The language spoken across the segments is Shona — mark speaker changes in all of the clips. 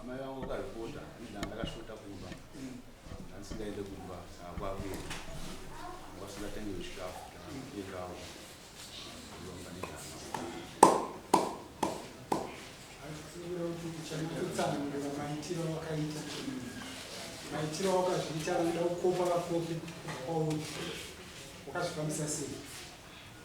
Speaker 1: amai vangu vakazvipota ndandakashota kumba handisingaende kumba sakwakuye vasingatenge zvikafu endawo kutsanangura
Speaker 2: maitiro wakaita maitiro wakazviita anoda kukopa vakopi kwauri wakazvifambisa sei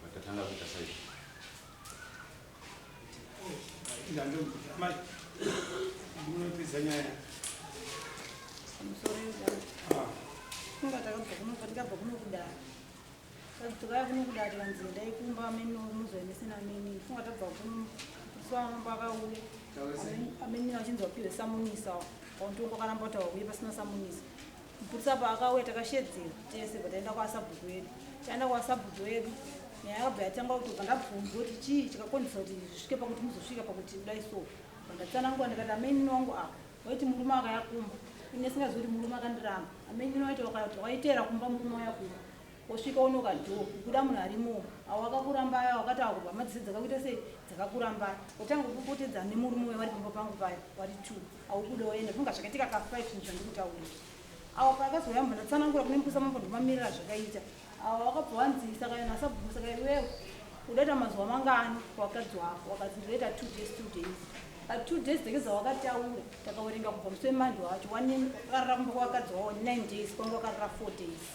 Speaker 2: Saka
Speaker 3: tatanga kuita saizvo. Tukaya kuno kudari vanzi ndai kumba amene muzo emesina amene funga tabva kuno so amambo akauya amene achinzi wapiwe samunisa wantongo akaramba kuti wauye pasina samunisa Mpusa paakauya takashedzera tese but aenda kwasabhuku wedu chaenda kwasabhuku wedu nyaya yakabva yatanga kutobva ndabvunza kuti chii chikakonzesa kuti zvisvike pakuti muzosvika pakuti kudai so vandatsanangura ndikati amaini wangu apa waiti murume akayakumba ini asingazi kuti murume akandiramba amaini waiti wakaita wakaiteera kumba murume wayakumba Osvika onoka door kubuda munhu arimo awo akakurambaya wakati akurwa madziso dzakakuita sei dzakakurambaya otanga kupopotedza nemurume uya wari pamba pangu paya wari two aubuda oenda funga zvakaitika ka five zvinhu zvandikutaurira awo paakazouya munhu atsanangura kune mbusa mambo ndomamirira zvakaita awo wakabva wanzi saka yona asabvuma saka iwewe udaita mazuva mangani wakadzi wako wakazi ndizoita two days two days but two days dzake dzawakataura takawerenga kubva musi wemanje wacho wanekarara kumba kwakadzi wawo nine days kwanga wakarara four days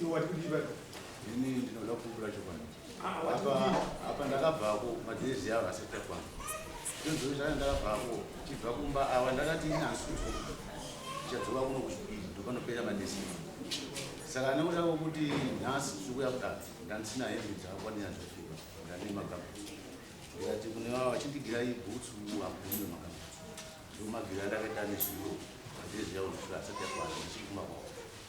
Speaker 2: Iwe wati kudii pano? Ini ndinoda
Speaker 1: kupupura chokwadi. Ah, wati Apa kudii? apa ndakabvako madhezi avo asati akwana. Ndozvino zvaka ndakabvako chibva kumba awa ndakati inasuko. Chadzoka kuno kuchipiri ndopanopera madhezi. Saka anoda kuti nhasi tikuya kudaro ndandisina hembe dzakakwanira zvofika ndane magamba. Ndikati kune vava vachindigira ibhutsu agume magamba. Ndomagira ndakaita nezviro madhezi avo ndosvika asati akwana ndichiguma kwavo.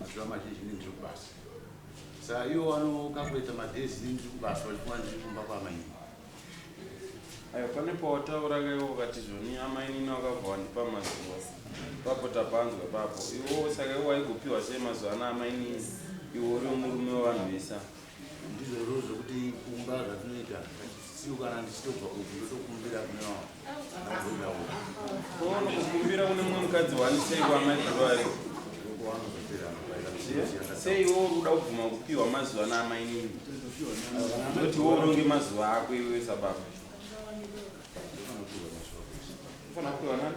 Speaker 1: Mazuva mazhinji ndini ndiri kubasa. Saka iwo wanokakuita madhezi ndini ndiri kubasa vachifunga ndiri kumba kwaamainini.
Speaker 4: Ayo pane pawataura kaiwo ukati zvoni amainini wakabva wandipa mazuva. Papo tapanzwa papo. Iwo saka iwo waigopiwa sei mazuva ana amainini iwo uri murume wevanhu vese. ndizvozvo
Speaker 1: zvokuti kumba zvatinoita siu kana ndichitobva kuti ndotokumbira kune wavo
Speaker 4: kukumbira kune mumwe mukadzi waniseiko amaiai sei wo kuda kubvuma kupiwa mazuva ana amainini noti wo uronge mazuva ako iwe sababa ufana kupiwa nani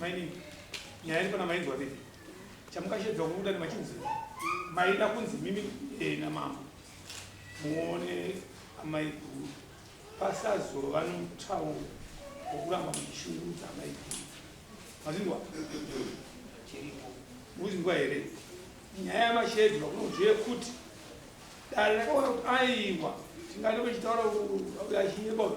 Speaker 2: Mainini, nyaya iri pana mainzwa vidi. Chamukashedza kubuda nemachinzi maida kunzi mimi eh, namambo muone amai guru pasazova nomutauro wokuramba muchishungurudza amai guru. Mazindwa chiripo muzindwa here nyaya yamashedzi vakunonzwi yekuti dare rakaona kuti aiwa tingati vachitaura achinyebaura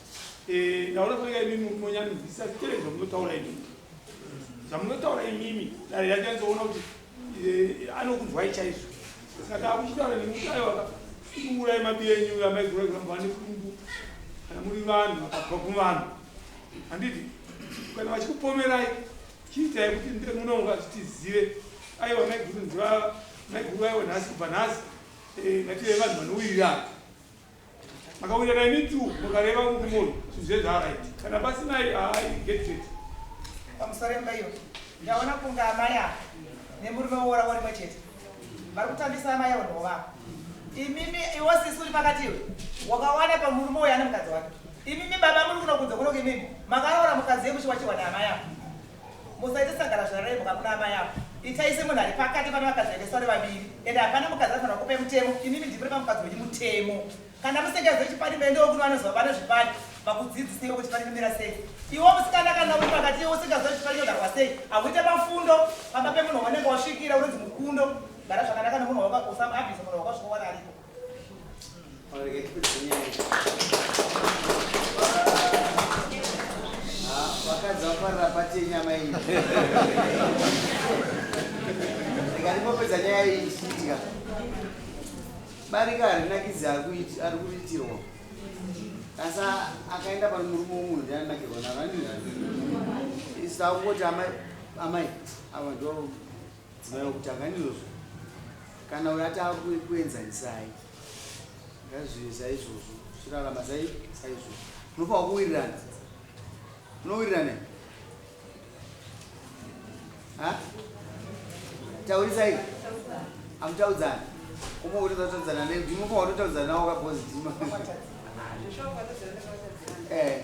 Speaker 2: Eh, ndaona kuya imimi munonyanzisa tere zvamunotaura imimi zvamunotaura imimi dare yakanzoona kuti eh, anokunzwai chaizvo saka akuchitaura nemutaiwaka kuurai mabiya enyu amaigura kuramba vane kungu kana muri vanhu vakabva kuvanhu handiti kana vachikupomerai chiitai kuti ndire munonga zvitizive aiwa maiguru ndiva maiguru aiwa nhasi kubva nhasi eh, ngative vanhu vanowirirana Akawirana ini tu mukareva kuti munhu zvinhu zvaraiti kana pasinai haai get it.
Speaker 5: Pamusoremba iyo ndaona kunge amai ava nemurume woora worimwe chete vari kutambisa amai avo ndovavo. Imimi iwo sisi uri pakati iwe wakawana pamurume uyo ane mukadzi wake. Imimi baba muri kunokunze kunoku imimi makaroora mukadzi yekuchiwachiwa naamai avo. Musaite sangara zvaraibuka kuna amai avo. Itai semunhu ari pakati pane vakadzi vaendeswa nevaviri ende hapana mukadzi anofanira kupe mutemo inini ndipire pamukadzi wenyu mutemo kana musingazive chipani meendewo kuno vanoziva vane zvipani vakudzidzisei kuti chipani chimira sei iwo musikana kana uri pakati iwo usingazive kuti chipani chinogarwa sei hakuite pafundo pamba pemunhu wanenge wasvikira unonzi mukundo gara zvakanaka nemunhu wako usamuabhise munhu wako zvinowana ariko
Speaker 6: ndikandipopedza nyaya iyi ndichiitika barika harinakidzi ari kuriitirwa asi akaenda pano murume womunhu ndianakirwa naro andizvandii sakungoti amai amai ava ndo Dzimai vakutanga ndizvozvo kana uyo atava kuenzanisai ngazvive saizvozvo chirarama sai saizvozvo unofanwa kuwirirana unowirirana ha taurisai amutaudzana kuma utotaudzana ne ndinofanwa kutotaudzana nawo kabozi dima
Speaker 7: eh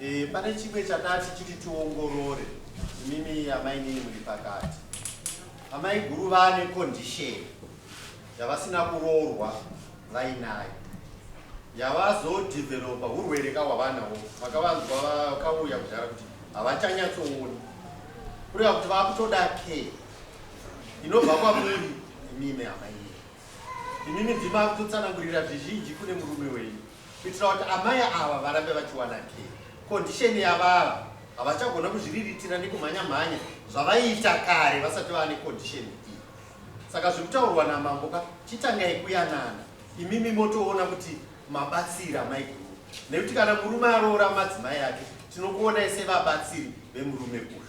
Speaker 1: E, pane chimwe chatati chiti tiongorore imimi amai nini muri pakati amai guru vane condition yavasina kuroorwa vainayo yavazodhivhelopa urwere ka hwavanawo vakavanzwa vakauya kudhara kuti havachanyatsooni kureva kuti vakutoda care inobva kwamuri imimi amai imimi ndima kutotsanangurira zvizhinji kune murume wenyu kuitira kuti amai ava varambe vachiwana kee kondisheni yavava havachagona kuzviriritira nekumhanya mhanya zvavaiita kare vasati vava nekondisheni iyi saka zviri kutaurwa namambo ka chitangai kuyanana imimi motoona kuti mabatsira maiguru nekuti kana murume aroora madzimai ake tinokuonai sevabatsiri vemurume uyu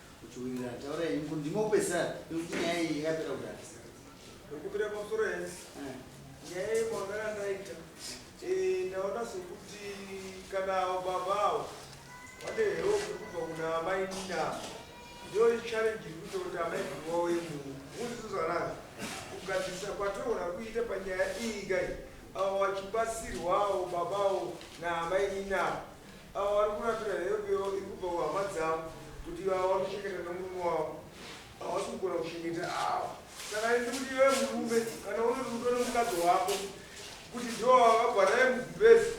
Speaker 6: Uchiwirirana taura henyu kuti ndimo kupesana nekuti nyaya iyi yakapera kudhara. Ndokupira
Speaker 8: pamusoro henyu. Eh. Nyaya iyi mwagara ndaita. Eh, ndaona sokuti kana avo baba avo vane hero kubva kuna amai Nina. Ndiyo challenge iri kuita kuti amai Nina wauye muno. Muzvizo zvanaka. Kugadzirisa kwatoona kuita panyaya iyi kai. Avo vachibatsirwawo baba avo naamai Nina. Avo vari kurapira help yavo iri kubva kuhama dzavo kuti ivavo vari kuchengeta nemurume wavo havasi kugona kuchengeta ava saka indi kuti iwe murume kana unoti kuti une mukadzi wako kuti ndiwo vakagwa naye mubhezi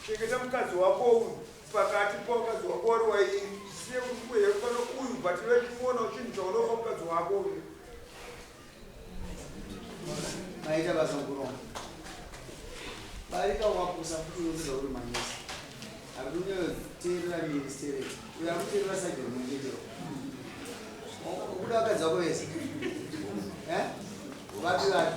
Speaker 8: chengeta mukadzi wako uyu pakati pamukadzi wako wari wairi siye kuti kuhekupano uyu but ive chimoonawo chinhu chaunopa mukadzi wako uyu
Speaker 6: Maita basa kuronga. Barika wakusa futi unoziva uri manesi. Akunoterera ministeri. Uya kuterera sajeri mwengetero. Ukuda wakadzi wako vese. Eh? Vapi vapi?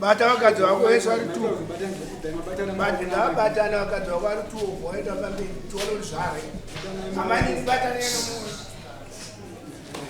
Speaker 6: bata
Speaker 2: vakadzi vako vese vari tu batana vakadzi vako vari tu voenda pamberi tione kuti zvare amainini bataneno